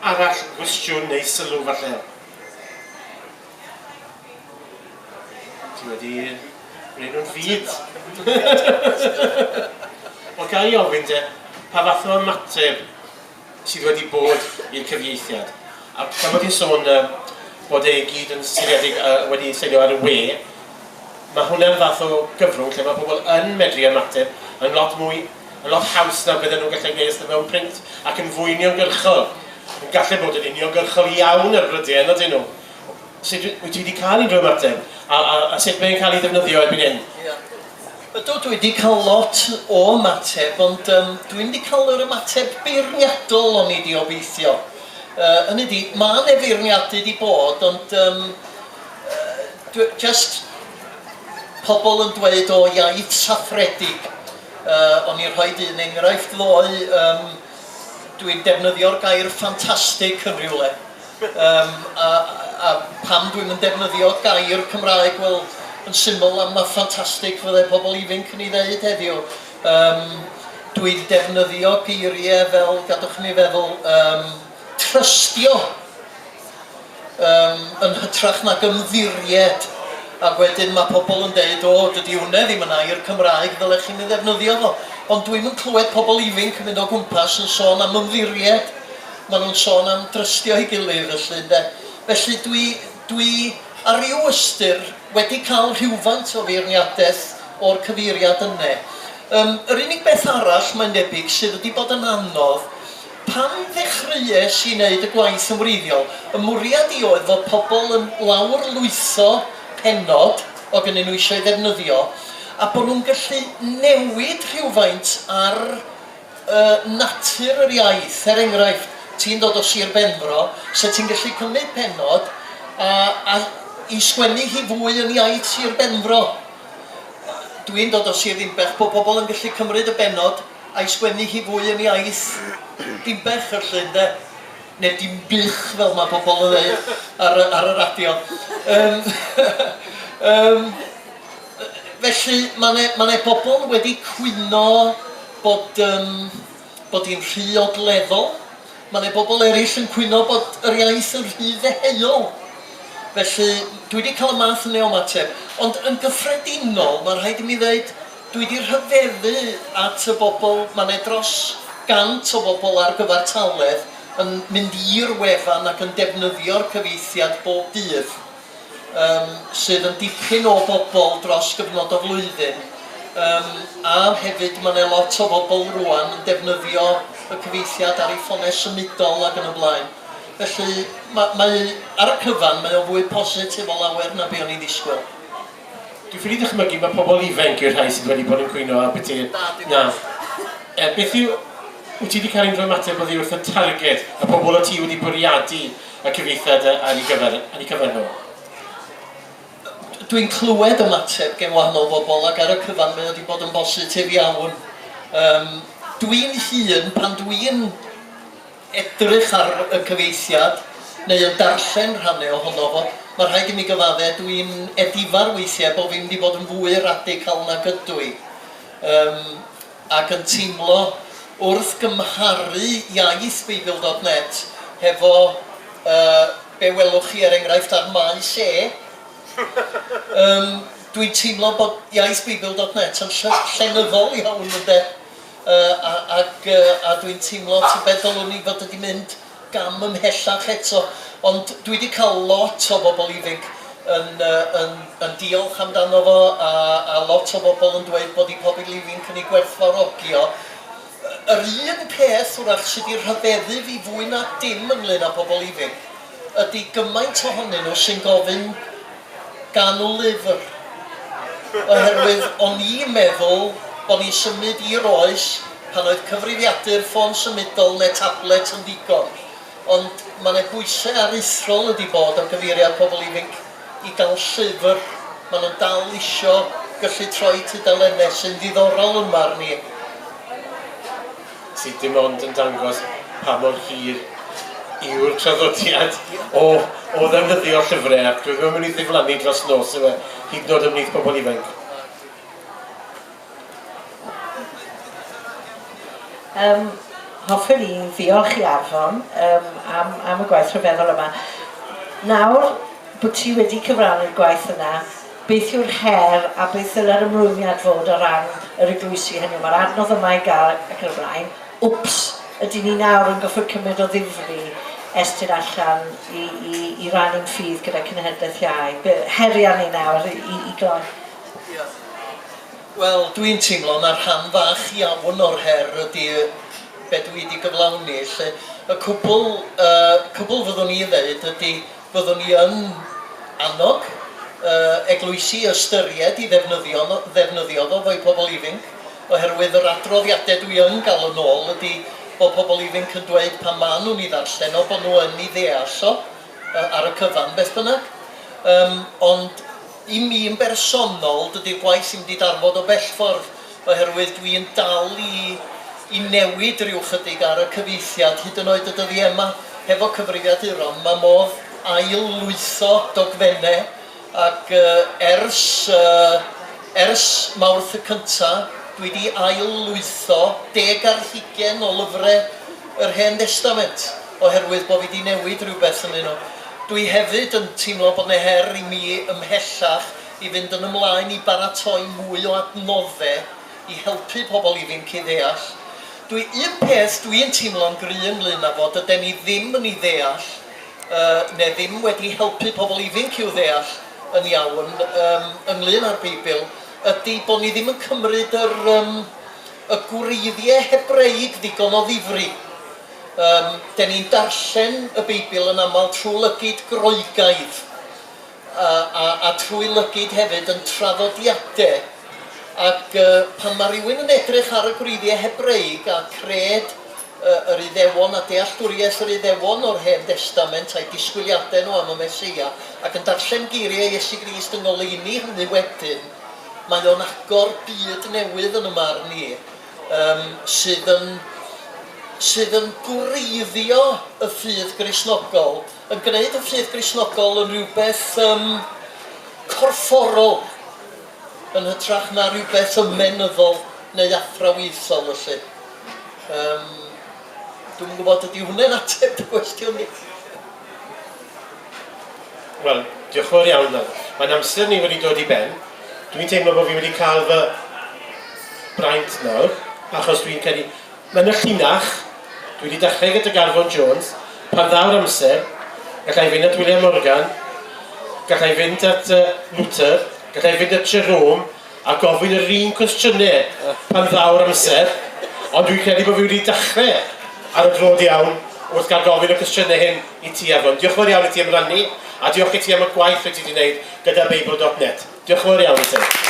arall, gwestiwn neu sylw falle? Ti wedi gwneud nhw'n fyd. Wel, ga i ofyn te, pa fath o ymateb sydd wedi bod i'r cyfieithiad? A pan bod ti'n sôn uh, bod ei gyd yn seiliedig uh, wedi seilio ar y we, mae hwnna'n fath o gyfrwng lle mae pobl yn medru ymateb yn lot mwy yn lot haws na bydden nhw'n gallu gwneud os ydyn nhw mewn print ac yn fwy uniongyrchol. Yn gallu bod yn uniongyrchol iawn ar frydien ydyn nhw. Sut wyt ti wedi cael unrhyw ymateb? A, a, a sut mae'n cael ei ddefnyddio erbyn hyn? Ia. Ydw, dwi wedi cael lot o ymateb, ond um, dwi'n wedi cael yr ymateb beirniadol o'n i wedi obeithio. Uh, hynny di, mae yna feirniadu wedi bod, ond um, uh, just pobl yn dweud o iaith saffredig Yy, o'n i'n rhoid un enghraifft ddoe, yym, dwi'n defnyddio'r gair 'ffantastig' yn rhywle. Yym, a a pam dwi'm yn defnyddio gair Cymraeg, wel, yn syml am na ffantastig fydde pobl ifinc yn ei ddeud heddiw. Yym, dwi'n defnyddio geiriau fel, gadwch i mi feddwl, yym, 'trystio'. Yym, yn hytrach nag ymddiried, ac wedyn ma' pobl yn deud, o, dydi hwnne ddim yn air Cymraeg, ddylech chi'm ei ddefnyddio fo. Ond dwi'm yn clywed pobl ifinc yn mynd o gwmpas yn sôn am ymddiried, maen nhw'n sôn am drystio'i gilydd felly, ynde. Felly dwi dwi ar ryw ystyr wedi cael rhywfaint o feirniadaeth o'r cyfeiriad yne. Yym, yr unig beth arall mae'n debyg sydd wedi bod yn anodd, Pan ddechreuais i wneud y gwaith yn wreiddiol, fy mwriad i oedd fod pobl yn lawrlwytho pennod o gynnyn nhw eisiau ei ddefnyddio a bod nhw'n gallu newid rhywfaint ar yy natur yr iaith. Er enghraifft, ti'n dod o Sir Benfro, 'set ti'n gallu cymryd pennod a a i sgwennu hi fwy yn iaith Sir Benfro? Dwi'n dod o Sir Ddinbych, bod pobl yn gallu cymryd y bennod a'i sgwennu hi fwy yn iaith Dinbych y llyn de, neu Dinbych fel mae pobl yn ddeud ar y, ar y radio. Um, um, felly mae yna ma ne bobl wedi cwyno bod, um, bod hi'n rhy ogleddol, Mae 'na bobl eraill yn cwyno bod yr iaith yn rhy ddeheuol. Felly, dwi 'di cael y math yna o ymateb. Ond yn gyffredinol, mae'n rhaid i mi ddeud, dwi 'di rhyfeddu at y bobl, mae 'na dros gant o bobl ar gyfartaledd yn mynd i'r wefan ac yn defnyddio'r cyfieithiad bob dydd. yym sydd yn dipyn o bobl dros gyfnod o flwyddyn yym a hefyd mae 'na lot o bobl rwan yn defnyddio y cyfeithiad ar ei ffonau symudol ac yn y blaen. Felly ma- mae ar y cyfan mae o'n fwy positif o lawer na be o'n i'n ddisgwyl. Dwi'n ffili dychmygu mae pobl ifainc yw'r rhai sydd wedi bod yn cwyno ar byti. Na dim Na. ots. Yy beth yw... Wyt ti 'di cael unrhyw ymateb oddi wrth y targed? Y pobl o't ti wedi bwriadu y cyfieithiad ar ei gyfer, ar ei cyfer nhw. Dwi'n clywed ymateb gen wahanol bobl ac ar y cyfan mae o wedi bod yn bositif iawn. Um, dwi'n hun, pan dwi'n edrych ar y cyfieithiad neu yn darllen rhannau ohono fo, mae rhaid i mi gyfadde, dwi'n edifar weithiau bod fi'n mynd i fod yn fwy radical nag ydw i. Um, ac yn teimlo wrth gymharu iaith Beibl dot net hefo yy be' welwch chi er enghraifft ar Maes E, yym dwi'n teimlo bod iaith Beibl dot net yn ll- llenyddol iawn ynde yy a ag yy a dwi'n teimlo tybed ddylwn i fod wedi mynd gam ymhellach eto, ond dwi 'di cael lot o bobl ifinc yn yn yn diolch amdano fo a a lot o bobl yn dweud bod 'u pobl ifinc yn ei gwerthfawrogi o. Yr un peth, wrach, sy' 'di rhyfeddu fi fwy na dim ynglŷn â pobl ifinc ydi gymaint ohonyn nhw sy'n gofyn ganol-lyfr, oherwydd o'n i'n meddwl bo' ni'n symud i'r oes pan oedd cyfrifiadur ffôn symudol ne' tablet yn ddigon, ond ma' 'ne bwyse aruthrol wedi bod ar gyfeiriad pobl ifinc i gael llyfr, ma' nhw'n dal isio gyllu troi tudalenne sy'n ddiddorol yn marn i. sydd dim ond yn dangos pa mor hir yw'r traddodiad o, o ddefnyddio llyfrau ac dwi'n meddwl mynd i ddiflannu dros nos yma, hyd yn oed ymwneud pobl ifanc. Um, hoffwn i ddiolch i Arfon um, am, am y gwaith rhyfeddol yma. Nawr bod ti wedi cyfrannu'r gwaith yna, Beth yw'r her a beth ddyle'r ymrwymiad fod o ran yr eglwysi, hynny yw, mae'r adnodd yma i gael ac yn y blaen, wps, ydyn ni nawr yn gorfod cymryd o ddifri Estyn allan i, i, i rannu'n ffydd gyda cenhedlaeth iau? Be, heri arni nawr i, i, i gloi. Diolch. Wel, dwi'n teimlo na rhan fach iawn o'r her ydy be dwi wedi gyflawni, lle y cwbl, y cwbl fyddwn i ddeud ydy, Byddwn ni yn annog yy eglwysi i ystyried i ddefnyddio fo ddefnyddio fo fo'u pobl ifinc oherwydd yr adroddiade dwi yn ga'l yn ôl ydi bo' pobl ifinc yn dweud pan ma' nhw'n i ddarllen o bo' nhw yn i ddeall o yy ar y cyfan beth bynnag yym ond I mi yn bersonol, dydy'r gwaith ddim 'di darfod o bellffordd, oherwydd dwi yn dal i i newid ryw ychydig ar y cyfieithiad, hyd yn oed y dyddie 'ma, hefo cyfrifiaduron, ma' modd ail-lwytho dogfenne, ac ers yy ers Mawrth y cynta, dwi 'di ail-lwytho deg ar hugen o lyfre, yr Hen Destament, oherwydd bo' fi 'di newid rywbeth ynddyn nhw. Dwi hefyd yn teimlo bod 'ne her i mi ymhellach i fynd yn ymlaen i baratoi mwy o adnodde i helpu pobl ifinc i ddeall. Dwi, un peth dwi'n teimlo'n gry' ynglŷn â fo, dyden ni ddim yn 'i ddeall, yy, ne' ddim wedi helpu pobl ifinc i'w ddeall yn iawn, yym, ynglŷn â'r Beibl, ydi bo' ni ddim yn cymryd yr, yym, Y gwreiddiau Hebreig ddigon o ddifri. Yym, 'de ni'n darllen y Beibl yn aml trwy lygid Groegaidd, a a a trwy lygid hefyd yn traddodiadau, ac yy pan ma' rywun yn edrych ar y gwreiddiau Hebreig a cred yy yr Iddewon a dealltwriaeth yr Iddewon o'r Hen Destament a'u disgwyliadau nhw am y Meseia, ac yn darllen geiriau Iesu Grist yn ngoleuni hynny wedyn, Mae o'n agor byd newydd yn 'y marn i, yym sydd yn sydd yn gwreiddio y ffydd Gristnogol, yn gwneud y ffydd Gristnogol yn rhywbeth yym corfforol yn hytrach na rhywbeth ymenyddol neu athrawiaethol felly. Yym dwi'm yn gwybod ydy hwnne'n ateb dy gwestiwn di? Wel, diolch yn fawr iawn nawr. Mae'n amser ni wedi dod i ben. Dwi'n teimlo bod fi wedi cael fy braint nawr, achos dwi'n credu... Mae yna llinach, dwi wedi dechrau gyda Garfon Jones, pan ddaw'r amser, gallai fynd at William Morgan, gallai fynd at yy Luther, gallai fynd at Jerome, a gofyn yr un cwestiyne pan ddaw'r amser, ond dwi'n credu bod fi wedi dachre ar y dro'd iawn wrth gael gofyn y cwestiyne hyn i ti Afon. Diolch yn fawr iawn i ti am rannu, a diolch i ti am y gwaith rwy ti wedi wneud gyda Beibl dot net. Diolch yn fawr iawn i ti.